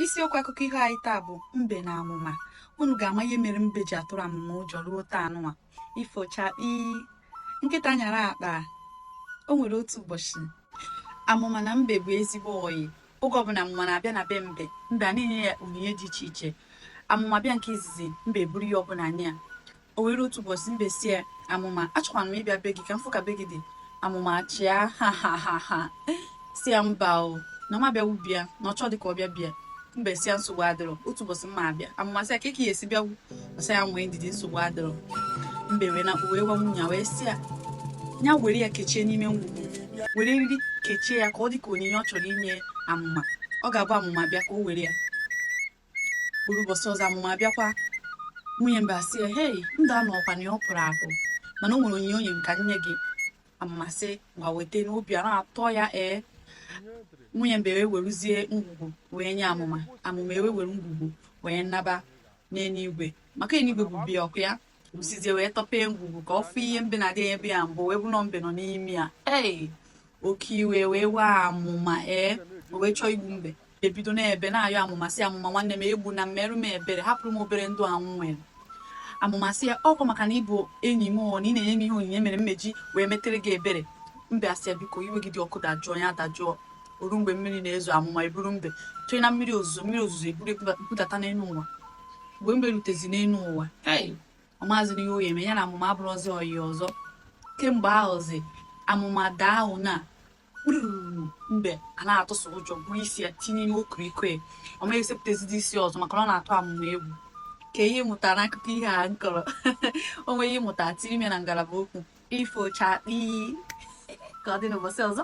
isiokwu akụkọ ihe anyị taa bụ mbe na amụma unu ga-ama ihe mere mbe ji atụrụ amụma ụjọ ruo taa nụnwa ifo chakpi nkịta nyara akpa o nwere otu ụbọchị amụma na mbe bụ ezigbo ọyị oge ọbụla amụma na-abịa na be mbe mbe ana-enye ya onyinye dị iche iche amụma bịa nke izizi mbe buru ihe ọbụla nye ya O wee ruo otu ụbọchị mbe sị ya, Amụma, achọkwara m ịbịa be gị ka m fụ ka be gị dị. Amụma chịa ha ha ha ha sị ya mba o na ọ ma bịawu be ya na ọ chọdị ka ọ bịa be ya mbe sị ya nsogbu adịrọ otu ụbọchị m ma-abịa amụma sị ya ka ị ya-esi bịawu ọ sị ya nwee ndidi nsogbu adịrọ mbe wee naa wee gwa nwunye ya wee sị ya ya were ya kechie n'ime ngwugwu were eriri kechie ya ka ọ dị ka onyinye ọ chọrọ inye amụma ọ ga-abụ amụma bịa ka o were ya o ruo ụbọchị ọzọ amụma abịakwa nwunye mbe asị ya hei ndo nụ ọkwa na ọ pụrụ apụ mana o nwere onyinye o nye m ka m nye gị amụma sị ngwa weta obi ana-atọ ya ee nwunye mbe wee weruzie ngwugwu wee nye amụma amụma ewee were ngwugwu wee naba n'eluigwe maka eluigwe bụ be ya ọkụ ya usizie wee tọpee ngwugwu ka ọ fụ ihe mbe na-adị ebe ya mbụ wee bụrụ mbe nọ n'ime ya ee oke iwe wee waa amụma ee o wee chọọ igbu mbe ebido na-ebe na-ayọ amụma sị amụma nwanne m egbuna m meerụ m ebere hapụrụ m obere ndụ a mụ nwere amụma sị ya ọkwa maka na ị bụ enyi m o na ị na-enye m ihe onyinye mere m ji wee metere gị ebere mbe asị ya biko iwe gị dị ọkụ dajụọ ya dajụọ o ruo mgbe mmiri na-ezo amụma eburu mbe chọrọ na mmiri ozuzo mmiri ozuzo eburu ya budata n'elu ụwa mgbe mbe rutezi n'elu ụwa ei ọ maazị na ihe ọ ya-eme ya na amụma abụrọzị ọyị ọzọ kemgbe ahụzi amụma daa ahụ na kpururu mbe ana-atụsị ụjọ buru isi ya tinye n'ime okoriko ya ọ ma esepụtazidi isi ọzọ maka na ọ na-atụ amụma egwu kee ihe ị mụtara n'akụkọ ihe a m kọrọ o nwee ihe ị mụta tiri m ya na ngalaba okwu ifo chakpi ka ọ dị n'ụbọchị ọzọ